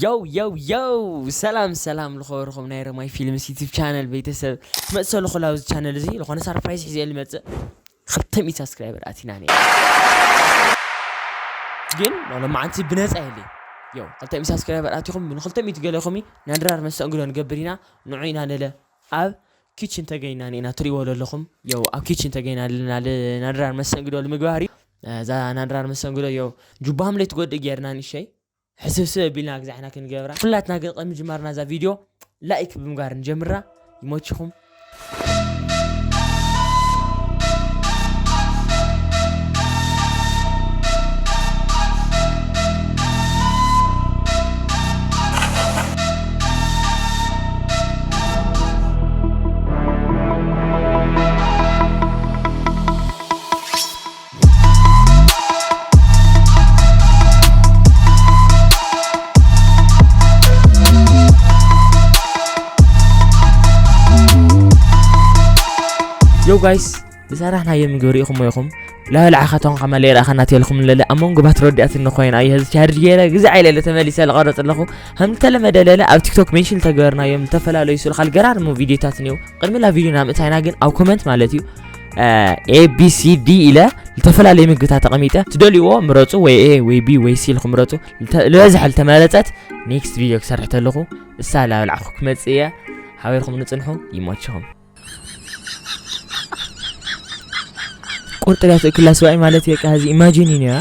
ዮው ዮው ዮው ሰላም ሰላም ልኸበርኹም ናይ ረማይ ፊልምስ ዩቲብ ቻነል ቤተሰብ ትመፅእ ኣለኹ ላብዚ ቻነል እዚ ዝኾነ ሳርፕራይዝ ሒዘ ልመፅእ ክልተ ሚእቲ ሳብስክራይበር ኣቲና ነ ግን ሎማዓንቲ ብነፃ የለይ ዮ ክልተ ሚእቲ ሳብስክራይበር ኣቲኹም ንክልተ ሚእቲ ገለኹም ናይ ድራር መስተንግዶ ንገብር ኢና ንዑ ኢና ነለ ኣብ ኪችን ተገኝና ኒና ትሪእዎ ዘለኹም የው ኣብ ኪችን ተገኝና ኣለና ናድራር መስተንግዶ ንምግባር እዩ እዛ ናድራር መስተንግዶ የው ጁባህም ለይትጎድእ ጌርና ንሸይ ሕስብስብ ኣቢልና ግዜና ክንገብራ ኩላትና ግን ቅድሚ ምጅማርና እዛ ቪድዮ ላይክ ብምግባር ንጀምራ ይሞችኹም። ዮ ጋይስ ዝሰራሕናዮ ምግቢ ርኢኹሞ ኢኹም ላበላዕኻቶም ከማ ለይረኣኸና ትልኩም ለለ ኣብ መንጎ ባት ረዲኣት እንኮይና ኣየ ህዚ ቻርጅ ገይረ ግዜ ዓይለለ ተመሊሰ ዝቐረፅ ኣለኹ ከም ተለመደ ለለ ኣብ ቲክቶክ ሜንሽን ተገበርናዮም ዝተፈላለዩ ስልኻል ገራርሙ ቪድዮታት እኒው ቅድሚ ላ ቪድዮ ናምእታይና ግን ኣብ ኮመንት ማለት እዩ ኤቢሲዲ ኢለ ዝተፈላለየ ምግብታት ተቐሚጠ ትደልይዎ ምረፁ ወይ ኤ ወይ ቢ ወይ ሲ ኢልኩም ምረፁ ዝበዝሐ ዝተመረፀት ኔክስት ቪድዮ ክሰርሕ ተለኹ እሳ ላብላዕኹ ክመፅእ እየ ሓቢርኩም ንፅንሑ ይመችኹም ቁርጥ ላይ ትእክላ ስባይ ማለት የቃ እዚ ኢማጂን ዩ ያ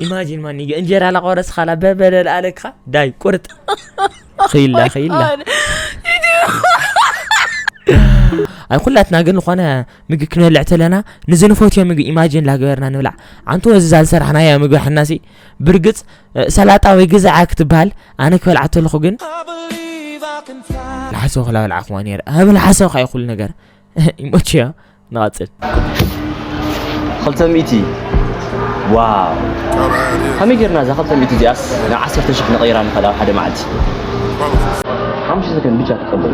ኢማጂን ማን እንጀራ ላቆረስካላ በበለል ኣለካ ዳይ ቁርጥ ክኢላ ክኢላ ኣብ ኩላትና ግን ዝኾነ ምግቢ ክንበልዕ ተለና ንዚ ንፈትዮ ምግቢ ኢማጂን ላገበርና ንብላዕ ኣንተ ወዝዛ ዝሰራሕናያ ምግቢ ሓናሲ ብርግፅ ሰላጣ ወይ ግዛዓ ክትበሃል ኣነ ክበልዓ ተለኹ ግን ልሓሰው ክላበልዓ ክዋ ነረ ኣብ ልሓሰው ካዩ ኩሉ ነገር ይመችያ ንቐፅል ክልተ ሚእቲ ዋው ከመይ ጌርና እዛ ክልተ ሚእቲ እዚኣስ ናብ ዓሰርተ ሽሕ ንቐይራ ንኸእል ኣብ ሓደ መዓልቲ ሓሙሽተ ሰከንድ ብቻ ተቀበሉ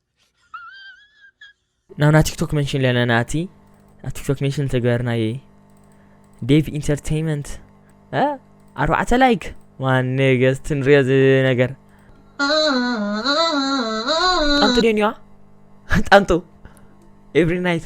ናብና ቲክቶክ መንሽን ኣለና እቲ ኣብ ቲክቶክ መንሽን ተግበርናየ ዴቭ ኢንተርቴይመንት ኣርባዕተ ላይክ ዋን ነገስት ንሪኦ ነገር ጣንጡ ደንዋ ጣንጡ ኤቭሪ ናይት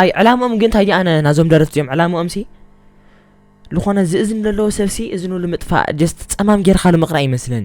ኣይ ዕላምኦም ግን እንታይ ኣነ ናዞም ደረፍቲ እዮም ዕላምኦም ሲ ዝኾነ ዝእዝን ዘለዎ ሰብሲ እዝኑ ንምጥፋእ ጀስት ፀማም ጌርካ ንምቕራእ ይመስለኒ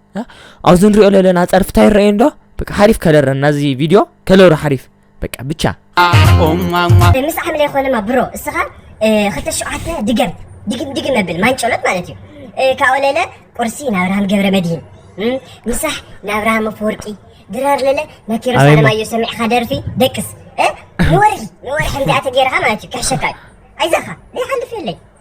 ኣብዚ ንሪኦ ዘለና ፀርፊ እንታይ ይረአዩ እንዶ በቃ ሓሪፍ ከለር ናዚ ቪድዮ ከለሩ ሓሪፍ በቃ ብቻ ምስ ዓምለ ይኮነማ ብሮ እስኻ ክልተ ሸውዓተ ድገም ድግም ድግም መብል ማንጨሎት ማለት እዩ ካብኡ ለለ ቁርሲ ናብርሃም ገብረ መድሂን ምሳሕ ናብርሃም ኣፈወርቂ ድራር ለለ ናኪሮ ሳለማዮ ሰሚዕኻ ደርፊ ደቅስ ንወርሒ ንወርሒ እንዲኣ ተገይርካ ማለት እዩ ክሕሸካ እዩ ኣይዛኻ ዘይሓልፍ የለይ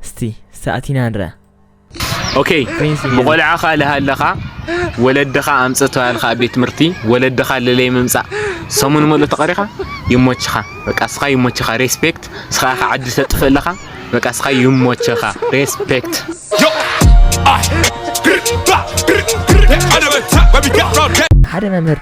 እስቲ እስቲ ኣቲና ንርኣ። ኦኬ ብቆልዓኻ ልሃለኻ ወለድኻ ኣምጽእ ተባሂልካ ኣብ ቤት ትምህርቲ ወለድኻ ለለይ ምምጻእ ሰሙን ሙሉእ ተቐሪኻ ይሞችኻ በቃ እስኻ ይሞችኻ ሬስፔክት እስኻ ኢኻ ዓዲ ተጥፍእ ኣለኻ በቃ እስኻ ይሞችኻ ሬስፔክት ሓደ መምህር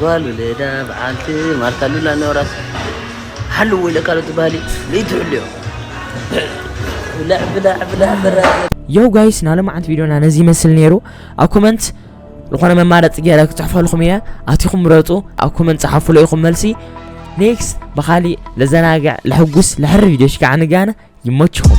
ጓል ውለዳ በዓልቲ ማርታ ሉላ ኖራስ ሓልዎ ኢለካ ዶ ትበሃል እዩ ለይትሕልዮ ብላዕ ብላዕ ብላዕ ብላዕ የው ጋይስ ናይ ሎማዓንቲ ቪድዮና ነዚ ይመስል ነይሩ ኣብ ኮመንት ዝኾነ መማረፂ ገይረ ክፅሕፈልኹም እየ ኣቲኹም ምረፁ ኣብ ኮመንት ፀሓፉ ለኢኹም መልሲ ኔክስት ብኻሊእ ለዘናግዕ ለሕጉስ ለሕሪ ቪድዮ ሽካዓ ንጋነ ይመችኹም